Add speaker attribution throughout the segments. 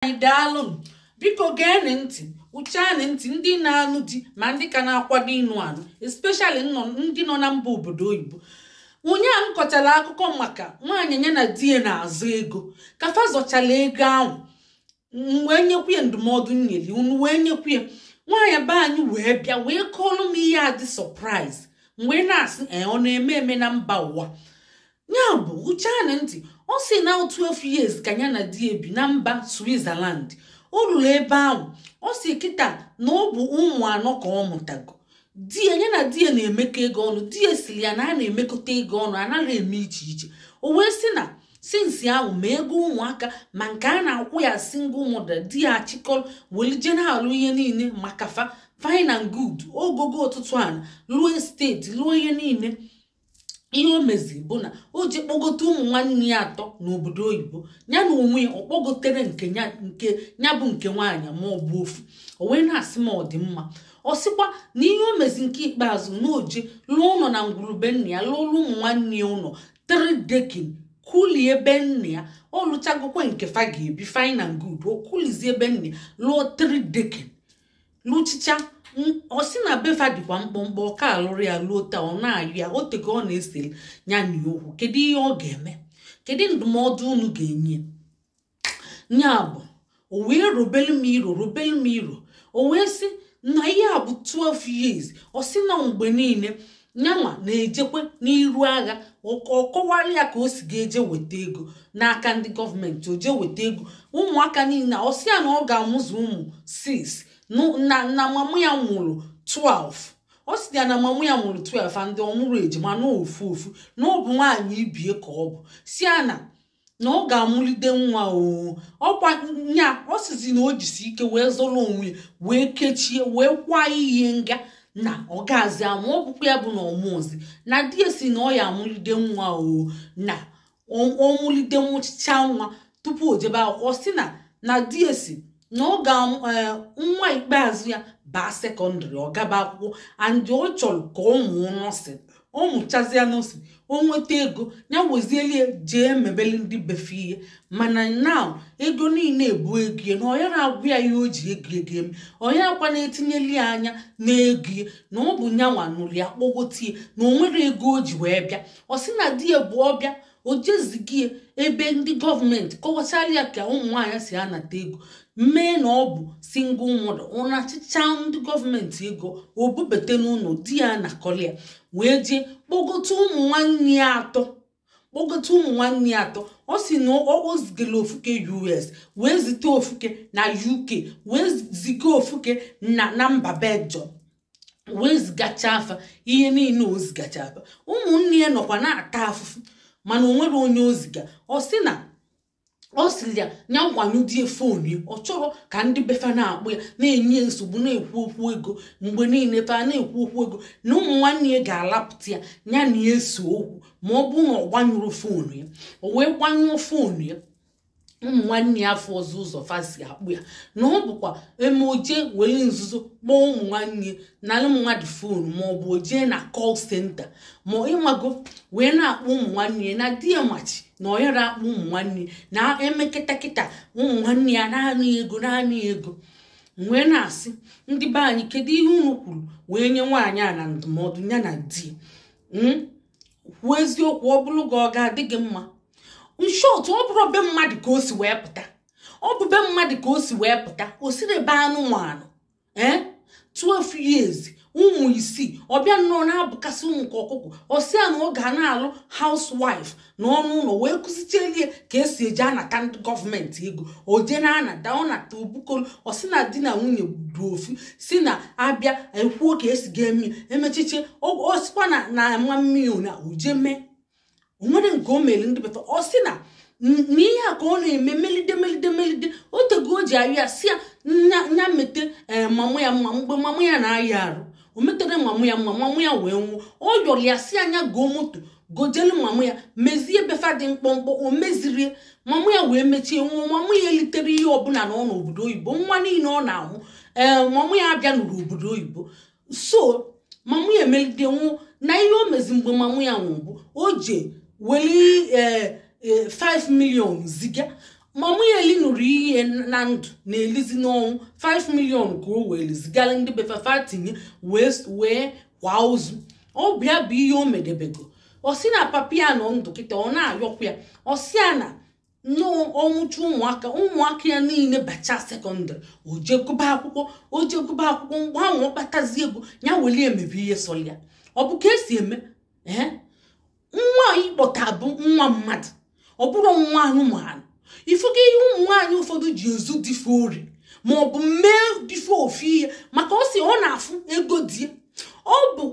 Speaker 1: anyị daalụ biko geenị ntị wụchaanị ntị ndị na-anụ di ma ndị ka na-akwado ịnụ anụ especially ndị nọ na mba obodo oyibo ụnyaahụ m kọchara akụkọ maka nwaanyị ya na di ya na-azọ ego ka fa zọchara ego ahụ m wee nyekwu ya ndụmọdụ nyeli unu wee nyekwu ya nwaanyị be anyị wee bịa wee kọọlụ m ihe a dị surprise wee na-asị ee ọ na-eme eme na mba ụwa ya bụ wụchaanị ntị ọ sị na 12 years ka ya na di ya bi na mba switzerland o ruru ebe ahụ ọ sị kịta na ọ bụ ụmụ anọ ka ọ mụtago di ya ya na di ya na-emekọ ego ọnụ di ya sịrị ya na a na-emekọta ego ọnụ anaghị eme iche iche o wee sị na since ahụ ma ego ụmụaka ma nke a na-akwụ ya single mother di ya achịkọrọ welị je na-alụ ihe niile maka fa fine and good ọ gọgo ọtụtụ ana lụọ estate lụọ ihe niile ihe o mezi bụ na o ji kpọgote ụmụ nwanne ya atọ n'obodo oyibo ya n'onwe ya ọ kpọgotere nke ya bụ nke nwaanyị ma ọ bụ ofu o wee na-asị m ọ dị mma ọ sịkwa na ihe o mezi nke ikpeazụ na o jee lụọ ụnọ na ngwurube nna ya lụọlụ ụmụ nwanne ya ụnọ 3 decking kulie be nna ya ọ lụchagokwa nke fa ga-ebi fine and good o kulizie be nna ya lụọ 3 decking lụchịchaa ọ sị na be fa dịkwa mkpọmkpọ ọ ka alụrọ ya luo taa ọ na-ayọ ya o tego ọ na-esere ya na ya okwu kedu ihe ọ ga-eme kedu ndụmọdụ unu ga-enye ya bụ o wee robelu m iro robelu m iro o wee sị na ihe a bụ 12 years ọ sị na mgbe niile nyanwa na-ejekwa n'iru agha ọ kọwara ya ka o si ga-eje weta ego n'aka ndị gọọmenti o jee weta ego ụmụaka niile ọ sị ya na ọ ga-amụzu ụmụ 6 na mama ya mụrụ 12 ọ sị ya na mama ya mụrụ 12 and ọ mụrọ ejima na ọ ofu ofu na ọ bụ nwaanyị ibe ya ka ọ bụ sị ya na na ọ ga-amụlide nwa oo ọkwa nya ọ sịzi na o jisi ike wee zọrọ onwe ya wee kechie wee kwaa ihe nga na ọ gazi amụ ọ bụkwa ya bụ na ọ mụzi na di ya sị na ọ ya-amụlide nwa oo na ọ- ọ mụlide mụchịchaa nwa tupu o jebe akwụkwọ ọ sị na na di ya sị na ọ ga eh, nwa ikpeazụ ya baa secondary ọ gaba akwụkwọ and ọ chọrọ ka ọ mụọ nursing ọ mụchazịa nursing o nweta ego ya wezieli ya jee mebeli ndị be fa ihe mana na ego niile a bụ ego ya na ọ ya na-agwa ya ihe o ji ego ego eme ọ ya akwa na-etinyeli ya anya n'ego ya na ọ bụ nyanwa nụrụ ya kpọgote ya na o nwero ego o ji wee bịa ọ sị na di ya bụ ọbịa o je zigie ebe ndị gọọmenti kọwachara ya ka ụmụ nwaanyị si anata ego mee na ọ bụ single mother ọ nachịchaa ndị gọọmenti ego o bubata n'ụlọ di ya anakọlịa wee jee kpọgote ụmụ nwanne ya atọ kpọgote ụmụ nwanne ya atọ ọ sị na ọ zigara ofuke us wee zite ofuke na uk wee ziga ofuke na na mba belgium wee zigachaa fa ihe niile o zigachaa fa ụmụnne ya nọkwa na-ata afụfụ mana o nwere onye o ziga ọ sị na ọ sịrị ya nya gbanyụdie fon ya ọ chọrọ ka ndị befa na-akpọ ya na-enye ya nsogbu na-ekwu okwu ego mgbe niile fa na-ekwu okwu ego na ụmụ nwanne ya ga-alapụta ya ya na ya esee okwu ma ọ bụrụ na ọ gbanyụrụ fon ya o wee gbanyụọ fon ya ụmụ nwanne ya afụọzị ụzọ fa si akpọ ya na ọ bụkwa e mee o je were nzuzo kpọọ ụmụ nwanne nalụ mmadụ fon ma ọ bụ o jee na call center ma ịmago wee na-akpọ ụmụ nwanne ya na di ya machi na ọ yara akpọ ụmụ nwanne na e mee kịta kịta ụmụ nwanne ya naanị ego naanị ego wee na-asị ndị be anyị kedu ihe unu kwuru wee nye nwaanyị a na ndụmọdụ ya na di hmm? kwuo eziokwu ọ bụrụ gị ọ ga-adị gị mma in short ọ bụrụ be mmadụ ka o si wee pụta ọ bụ be mmadụ ka o si wee pụta o siri be anụmanụ ee 12 years ụmụ isii ọ bịa nnọọ na-abụkasị ụmụ ka ọkụkọ ọ sị ya na ọ ga na-alụ housewife nọ n'ụlọ wee kụzichelie ka e si eji anata ndị gọọmenti ego o je na-anata ọ nata o bukolu ọ sị na di na nwunye bụ ofu sị na a bịa e kwuo ka e si ga-eme e mechiche ọ sịkwa na mamụ ya na o je emee o nwere nke o mere ndị befa ọ sị na ihe a ka ọ na-eme melide melide melide o tego o ji ayọ ya sị ya nya mete eh, mamụ ya mma mgbe mamụ ya na-aya arụ o metere mamụ ya mma mamụ ya wee nwụọ ọ yọrọ ya sị ya nya goo moto gojelu mama ya mezie befa dị mkpọmkpọ o mezirie mama ya wee mechie nwụọ mama ya elitere ihe ọbụla na ọ nọ obodo oyibo nwa niile ọ na-amụ ee mama ya abịanụrụ obodo oyibo so mama ya emelide nwụọ na ihe o mezi mgbe mama ya nwụrụ bụ o je weli ee 5 million ziga mama ya elinuru ihe na ndụ na-elizi n'ọnwụ 5 million ka o weli zigara ndị befa fa tinye wee wee kwaa ozu ọ bụ ya bụ ihe o medebego ọ sị na papa ya nọ ndụ kịta ọ na-ayọkwa ya ọ sị ya na ọ mụcha ụmụaka ụmụaka ya niile bacha sekọndịrị o je gụba akwụkwọ o je gụba akwụkwọ mgbe ahụ ọ kpatazi ego ya welie mebe ihe sọrọ ya ọ bụ ka e si eme ee nwa ị kpọta bụ nwa mmadụ ọ bụrọ nwa anụmanụ ị fụgo ihe ụmụ nwaanyị ụfọdụ ji ezu di fa ori ma ọ bụ mee di fa ofu ihe maka ọ sị ọ na-afụ ego di ya ọ bụ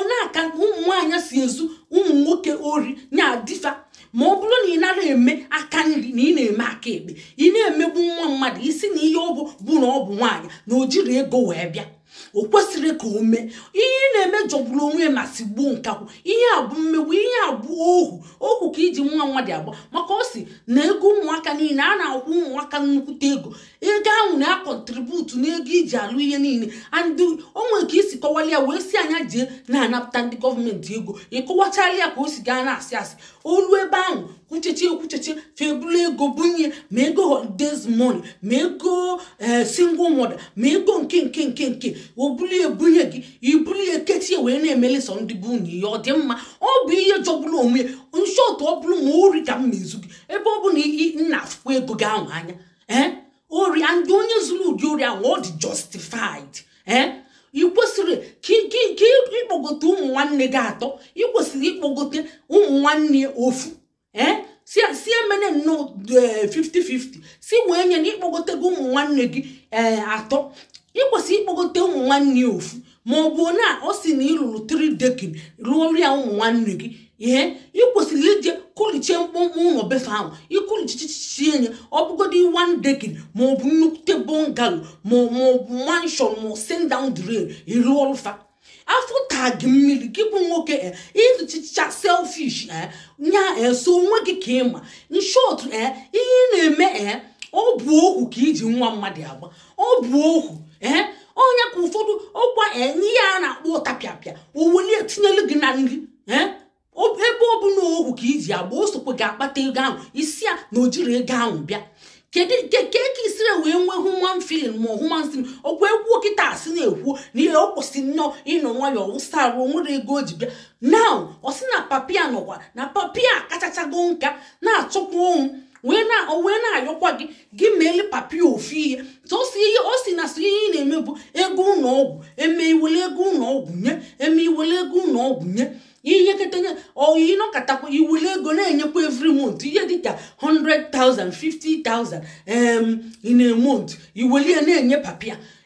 Speaker 1: nya ka ụmụ nwaanyị si ezu ụmụ nwoke ori na di fa ma ọ bụrụ na ị nara eme aka nri na ị na-eme aka ekpe ị na-emegbu nwa mmadụ ị sị na ihe ọ bụ bụ na ọ bụ nwaanyị na o jiri ego wee bịa o kwesịrị ka o mee ihe ị na-eme jọgburu onwe ya ma sigbuo nkakwụ ihe a bụ mmegbu ihe a bụ ohu ohu ka i ji nwa mmadụ agba maka ọ sị na ego ụmụaka niile a na-akwụ ụmụaka nnukwute ego ego ahụ na-akọntributu n'ego i ji alụ ihe niile and o nwere ka i si kọwara ya wee sị ya nya jee na-anapụta ndị gọọmenti ego ị kọwachaala ya ka o si gaa na-asị asị o lu ebe ahụ kwuchechie kwuchechie fa ebulu ego bunye ma ego holidays money ma ego eh, single mother ma ego nke nke nke nke o bulu ya bunye gị i bulu ya kechie wee na-emeli sọ ndị be unu ihe ọ dị mma ọ bụ ihe jọgburu onwe ya in short ọ bụrụ m ori ka m na-ezu gị ebe ọ bụ na ị na-afụkwa ego gị ahụ anya ee eh? ori and onye zuru ụdị ori ahụ ọ dị justified ee ị kwesịrị ka ị- ka ị- ka ị- ịkpọgote ụmụ nwanne gị atọ ị kwesịrị ịkpọgote ụmụ nwanne ofu ee si si emene nnọọ eh, 50-50 si wee nye na ị kpọgotego ụmụ nwanne gị ee atọ ị kwesịrị ịkpọgote ụmụ nwanne ofu ma ọ bụ na ọ sị na ị lụrụ 3 decking lụọrụ ya ụmụ nwanne gị ihe ị kwesịrị ije kụlichie mkpụmkpụ ụlọ be fa ahụ ị kụlichichichie nye ọ bụgodị one decking ma ọ bụ nnukwute bungalo ma ọ ma ọ bụ mansion ma ọ send down the rain ị rụọrọ fa afọ taa gị mmiri gị bụ nwoke e ịzụchicha selfish e na sọ onwe gị ka ị ma in short e ihe ị na-eme e ọ bụ ohu ka i ji nwa mmadụ agba ọ bụ ohu ee ọ nya ka ụfọdụ ọkwa e ihe a na-akpọ ọtapịapịa o welu ya tinyelu gị na nri ebe ọ bụ na ohu ka i ji agba o sokwa gị akpata ego ahụ ị sị ya na o jiri ego ahụ bịa kedu nke ka eke i siri wee nwee human feeling ma human feeling ọkwa e kwuo kịta a sị na-ekwu na ihe o kwesị nnọọ ịnọ nwayọọ wụsa arụ o nwere ego o ji bịa now ọ sị na papa ya nọkwa na papa ya akachachago nka na-achọkwa ọnwụ wee na-ayọkwa gị gị meele papa ya ofu ihe sọsọ ihe ọ sị na sọ ihe ị na-eme bụ ego ụlọ ọgwụ e mee i wele ego ụlọ ọgwụ nye e mee i wele ego ụlọ ọgwụ nye ihe ketenye or ị nọkatakwa i wele ego na-enyekwa every month ihe dịka 100,000 50,000 em in a month i welu ya na-enye papa ya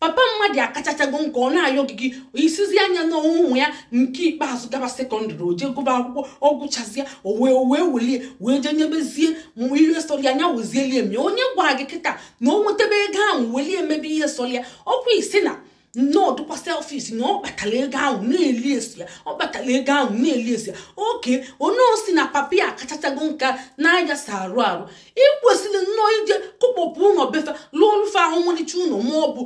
Speaker 1: papa mmadụ akachachago nka ọ na-ayọ gị gị ị sịzịa nya na ụmụ ya nke ikpeazụ gaba secondary o jee gụba akwụkwọ ọ gụchazie o wee o wee welie wee jee nyebezie ma ihe sọrọ anya wezielie mee onye gwara gị kịta na o nwetebe ego ahụ welie emebe ihe sọrọ ya ọkwa ị sị na nnọọ dụkwa selfish na ọ kpatara ego ahụ na-elisi ya ọ kpatara ego ahụ na-elisi ya oke onye ọ sị na papa ya akachachago nka na-ayasa arụ arụ ị kwesịrị nnọọ ije kụkpọpụ ụlọ be fa lụọlụ fa ọmalịcha ụlọ ma ọ bụ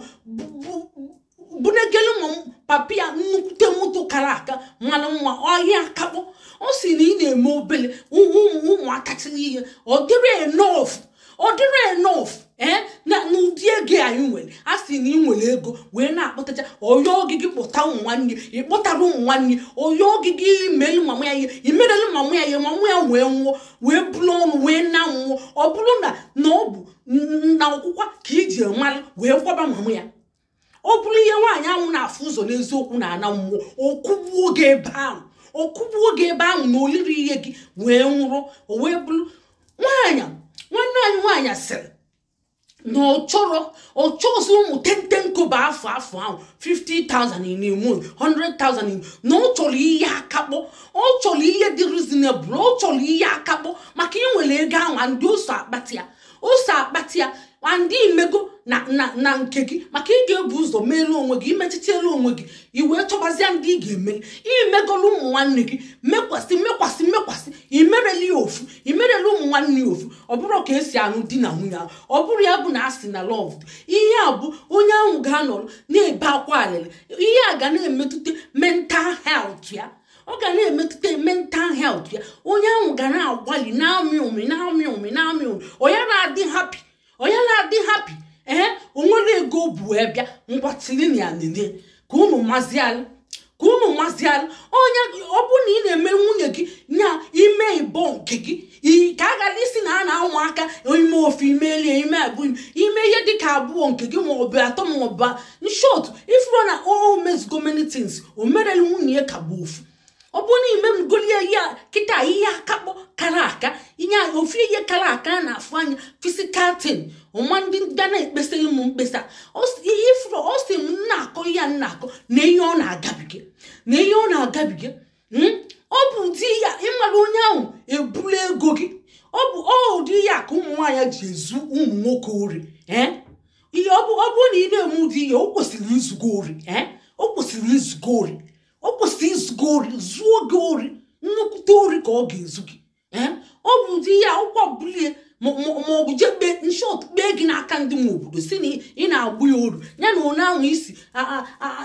Speaker 1: bunegelu ma papi ya nnukwute moto kara aka mana nwa ihe akakpọ ọ sị na ị na-eme obele ụmụaka tiri ihe ọ dịrọ enough ọ dịrọ enough ee na n'ụdị ego anyị nwere a sị na ị nwere ego wee na-akpọtacha ọya oge gị kpọta nwaanyị ị kpọtara nwaanyị ọya oge gị i melu mama ya ihe i merelu mama ya ihe mama ya wee nwụọ wee buru ọnụ wee naa mmụọ ọ bụrụ na na ọ bụ na ọkwụkwa ka i ji mara wee kwaba mama ya ọ bụrụ ihe nwaanyị ahụ na-afụ ụzọ n'eziokwu n'ana mmụọ ọ kụgbuo gị ebe ahụ ọ kụgbuo gị ebe ahụ na o lirọ ihe gị wee nwụrụ o wee bụrụ nwaanyị nwanne anyị nwaanyị sịrị na ọ chọrọ ọ chọzi ụmụ ten ten kobo afọ afọ ahụ 50,000 in a month 100,000 in na ọ chọrọ ihe akakpọ ọ chọrọ ihe dị reasonable ọ chọrọ ihe akakpọ maka ị nwere ego ahụ and o so akpata ya o so akpata ya and i mego na na na nke gị maka ị ga-ebu ụzọ meere onwe gị i mechitere onwe gị i wee chọbazịa ndị ị ga-emeli i megolu ụmụ nwanne gị mekwasị mekwasị mekwasị i mereli ya ofu i mereli ụmụ nwanne ya ofu ọ bụrọ ka e si anụ di na nwunye ahụ ọ bụrọ ya bụ na a sị na love ihe a bụ onye ahụ ga-anọrọ na-ebe akwa alịlị ihe a ga na-emetụta mental health ya ọ ga na-emetụta mental health ya onye ahụ ga na-agbalị na-amị ụmị na-amị ụmị na-amị ụmị ọ ya na-adị happy ọ ya na-adị happy ee o nwere ego bụ wee bịa ngwa tiri na ya nile ka unu mazialụ ka unu mazialụ onye ọbụna ị na-eme nwunye gị nya i mee ịbọ nke gị i- ka a ghara ịsị na a na-anwụ aka i mee ofu i meelie i mee abụọ i mee ihe dịka abụọ nke gị ma ọ bụ atọ ma ọ bụ in short ị fụrụ na o mezugo many things o merelu nwunye ya ka bụ ofu ọ bụrụ na i megolị ya kịta ihe akakpọ kara aka ihe ofu ihe kara aka a na-afụ anya physical thing ụma ndị ga na-ekpesịrị m mkpesa ihe ị fụrụ ọ sị m na-akọ ihe a na-akọ na ihe ọ na-agabiga na ihe ọ na-agabiga hmm? ọ bụ ụdị ya ị mara onye ahụ eburu ego gị ọ bụ ụdị ya ka ụmụ nwaanyị ji ezu ụmụ nwoke ori eh? ihe ọ bụrụ na ị na-eme ụdị ya o kwesịrị izu gị ori eh? o kwesịrị izu gị ori o kwesị izu gị ori zuo gị ori nnukwute ori ka ọ ga-ezu gị eh? ọ bụ ụdị ihe akwụkwọ bulie ma ọ bụ jee kpee in short kpee gị n'aka ndị nwe obodo si na ị na-agbụ ya oru ya na onye ahụ isi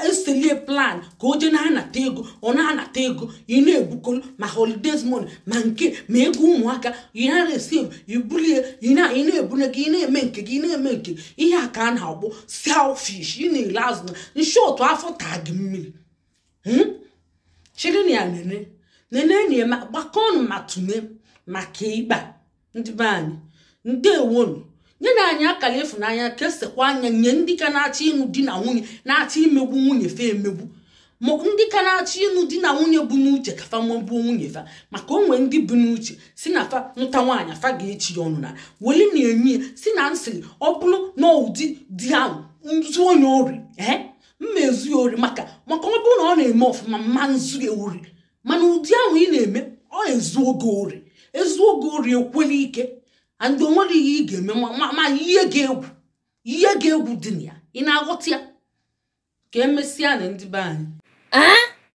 Speaker 1: eselie plan ka o jee na-anata ego ọ na-anata ego ị na-ebukolu ma holidays money ma nke ma ego ụmụaka ị na-receive i bulie ị na-ebunye gị ị na-eme nke gị ị na-eme nke ihe a ka a na-akpọ selfish ị na-ele azụ na in short afọ taa gị mmiri Hmm? chiri na ya nene nene na ya ma- gbakọnụ ma tụne maka ịgba ndị be anyị ndewonu nyenụ anyị akara ịfụnanya kesekwanụ ya nye ndị ka na-achọ ịnụ di na nwunye na-achọ imegbu nwunye fa emegbu ma ndị ka na-achọ ịnụ di na nwunye bu n'uche ka fa megbuo nwunye fa maka o nwe ndị bu n'uche si na fa nụta nwaanyị fa ga-echi ya ọnụ na weli na enyi ya si na nsịrị ọ bụrụ na ụdị di ahụ nzu onye ori ee m ma ezu ya ori maka maka ọ bụrụ na ọ na-eme ọfụma m ma ezu ya ori mana ụdị ahụ ị na-eme ọ ezuo gị ori ezuo gị ori ekwela ike adị o nwere ihe ị ga-eme ma ihe ga-egwu ihe ga-egwu dị na ya ị na-aghọta ya ka emesịanụ ndị be anyị